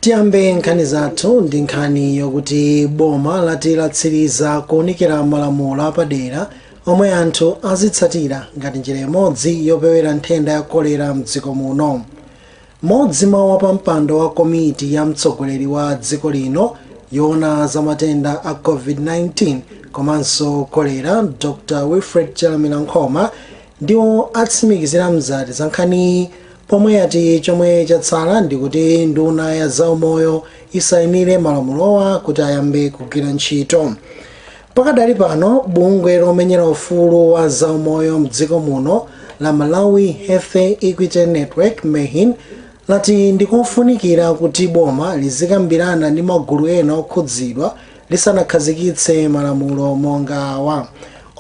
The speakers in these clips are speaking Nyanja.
tiyambe nkhani zathu ndi nkhani yokuti boma lati latsiriza kuunikira malamulo apadera omwe anthu azitsatira ngati njira imodzi yopewera nthenda ya kolera mdziko muno M'modzi mwa wapampando wa komiti ya mtsogoleri wa dziko lino yoona za matenda a COVID-19 komanso kolera Dr. Wilfred Chalamila Nkhoma ndiwo atsimikizira Mzati za nkhaniyi pomwe ati chomwe chatsala ndikuti nduna ya zaumoyo isainire malamulowa kuti ayambe kugwira ntchito. Pakadali pano bungwe lomenyera ufulu wa zaumoyo mdziko muno la Malawi Health Equity Network MHEN lati ndikofunikira kuti boma lizikambirana ndi magulu ena okhudzidwa lisanakhazikitse malamulo monga awa.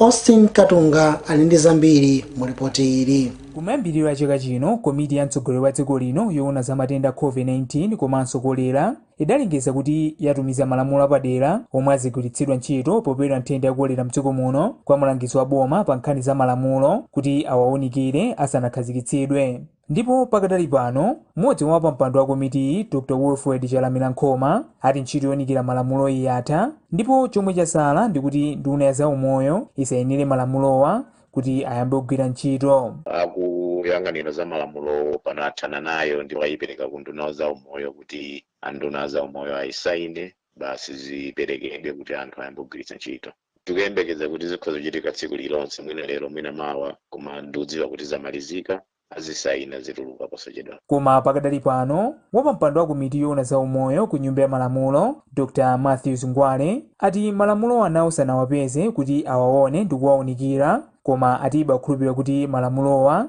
Austin Katunga ali ndi zambiri mu lipoti ili. Kumayambiriro kwa chaka chino, komiti ya mtsogoleri wa dziko lino yoona za matenda a Covid-19 komanso kolera, idalengeza kuti yatumiza malamulo apadera omwe azigwiritsidwa ntchito popewera nthenda ya kolera mdziko muno kwa mlangizi wa boma pa nkhani za malamulo kuti awaunikire asanakhazikitsidwe ndipo pakadali pano mmodzi mwa wapampando wa komitiyi dr wilfred chalamila nkhoma ati ntchito younikira malamuloyi yatha ndipo chomwe chasala ndikuti nduna ya zaumoyo isainire malamulowa kuti ayambe kugwira ntchito. akuyang'anira za malamulowo pano athana nayo ndipo ayipereka ku nduna ya zaumoyo kuti anduna a zaumoyo ayisaine basi ziperekedwe kuti anthu ayambe kugwiritsa ntchito. Tikuyembekeza kuti zikhoza kuchitika tsiku lilonse, mwina lero mwina mawa, koma ndikudziwa kuti zamalizika. azisaina zituluka posachedwapa. Koma pakadali pano, wapampando wa komiti yoona za umoyo ku Nyumba ya Malamulo, Dr Mathews Ngwale, ati malamulowa nawo sanawapeze kuti awaone ndikuwaunikira koma ati iwo akukhulupilira kuti malamulowa